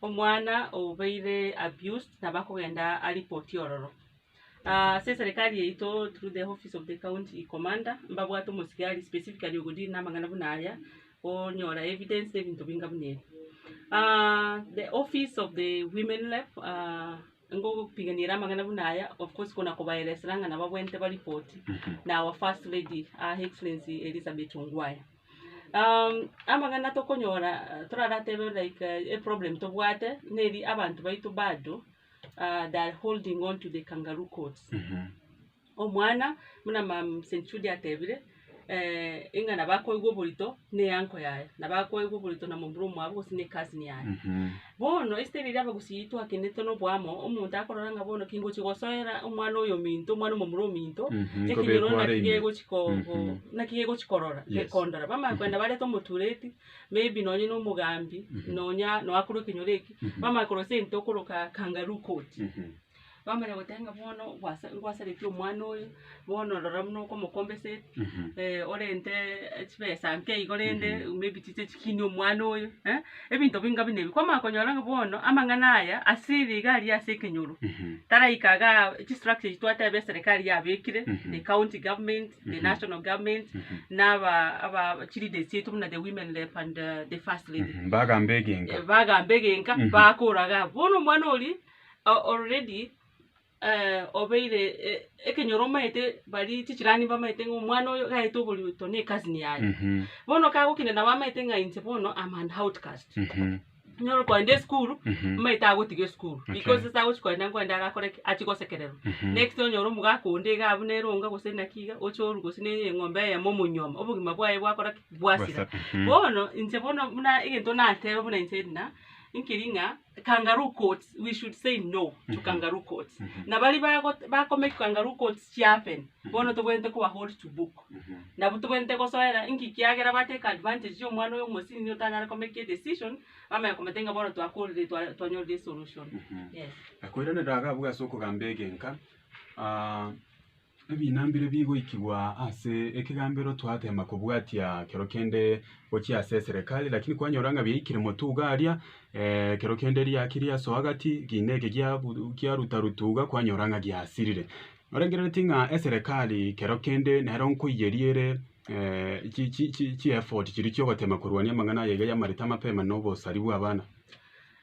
Omwana obeire abused nabo akogenda a report ororo. Ase eserekari yaito through the office of the county commander mbabwate omosigari specifically ogo deal namang'ana buna aya, onyora evidence na ebinto binga buna ebi. The office of the women rep ngogopiganiera amang'ana buna aya of course kona kobaeresera ng'a nabo abwenerete baripoti na our first lady her excellency Elizabeth Ongwae. amang'ana tokonyora toraratebe like eproblem tobwate neri abanto baito bado they are holding on to the kangaroo court. Omwana buna mama St. Jude atebire, ng'a nabo akoigwa oborito na eanko yaye, nabo akoigwa oborito na momura omwabo gose na ecousin yaye. Bono esete riria abagusii twakenetwe noboamo, omonto akorora ng'a bono kingochia gosoera omwana oyominto, omwana omomura ominto, Mhm, ekenyoro nkobekwa are naki ime. gegochia ko- Mhm. ko- naki gegochia korora, Yes. gekondora. Bamanya koenda barete omotureti, maybe nonye na omogambi, Mhm. nonya noakorwa ekenyoro eki, Mhm. bamanya korwa ase ente okoroka kangaroo court. Mhm. bamanya goteba ng'a bono gwasa ngwasaretie omwana oyo, bono rora buna okomokomba ase orente chibesa nke igo rende maybe chiche chikinie omwana oyo, ebinto binga buna ebi. Kwamanya konyora ng'a bono amang'ana aya ase ere iga aria ase ekenyoro, taraika iga chistructure echi twateba eserikari yabekire, the county government, the national government, na aba aba chileaders chiaito buna the women rep and the first lady. Mbagamba egenga. Mbagamba egenga, bakora iga abwo. Bono omwana oria. o- already eh, obeire eh, ekenyoro omaete bari chichirani bamaete ng'a omwana oyo gaete oborioto ne ecousin yaye Mhm. bono kagokina nabo amaete ng'a inche bono am an outcast Mhm. nyoro kogenda esukuru Mhm. amaete agotiga esukuru Okay. because ase agochi kogenda nkogende agakore ki achie gosekererwa Mhm. next onyore omogaka onde iga abwo nere onga gose naki iga oche orwe gose ne eng'ombe eyemo omonyuoma obogima bwaye bwakora ki bwasira Bwasa- mhm. bono inche bono buna egento nateba buna inche Edna nkeri ng'a kangaroo courts we should say no to kangaroo courts na bari bago- bakomake kangaroo courts chiapen bono tobwenerete koba hold to book nabo tobwenerete gosoera inki kiagera ba take advantage ya omwana oyo omosini nigo otanyare ko make edecision bamanye komotebia ng'a bono twakorire twa- twanyorire esolution yes. Nakoiraneria iga abwo ase okogamba egenka, ah. Ebina mbire bigoikigwa ase ekegambero twateema kobwatia kero kende gochia ase eserekari lakini kwanyora ng'a biaikire motwe iga aria kero kende riaki riasoa gati kiina eke kiaruta ruta iga kwanyora ng'a giasirire. Norengereretie ng'a eserekari kero kende nero nkoiyeria ere chi effort chiria chia ogoteema korwania amang'ana aye iga y'amareta amapema na obosari bw'abana.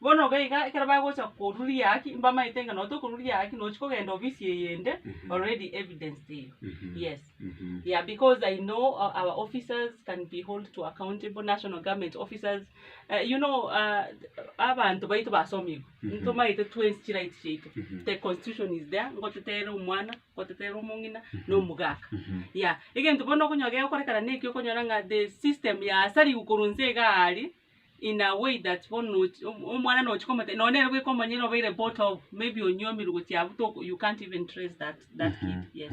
Bono iga iga ekero bagocha koruria haki mbamaete ng'a noo tokoruria haki nochi kogenda ofisi eyende already evidence teiyo yes yeah because i know our officers can be hold to accountable national government officers you know abanto baito basomigwe ntomaete twensi chirights chiaito the constitution is there ngotetere omwana ngotetere omong'ina na omogaka yeah egento bono okonyora gegokorekana nekio okonyora ng'a the system yasariwu korwa inse igaa aria. in a way that bono ochi omwana nochi komotebia nonye nere bweka omonyene obeire bought of maybe onywomire gochia abwo toko you can't even trace that that kid yes.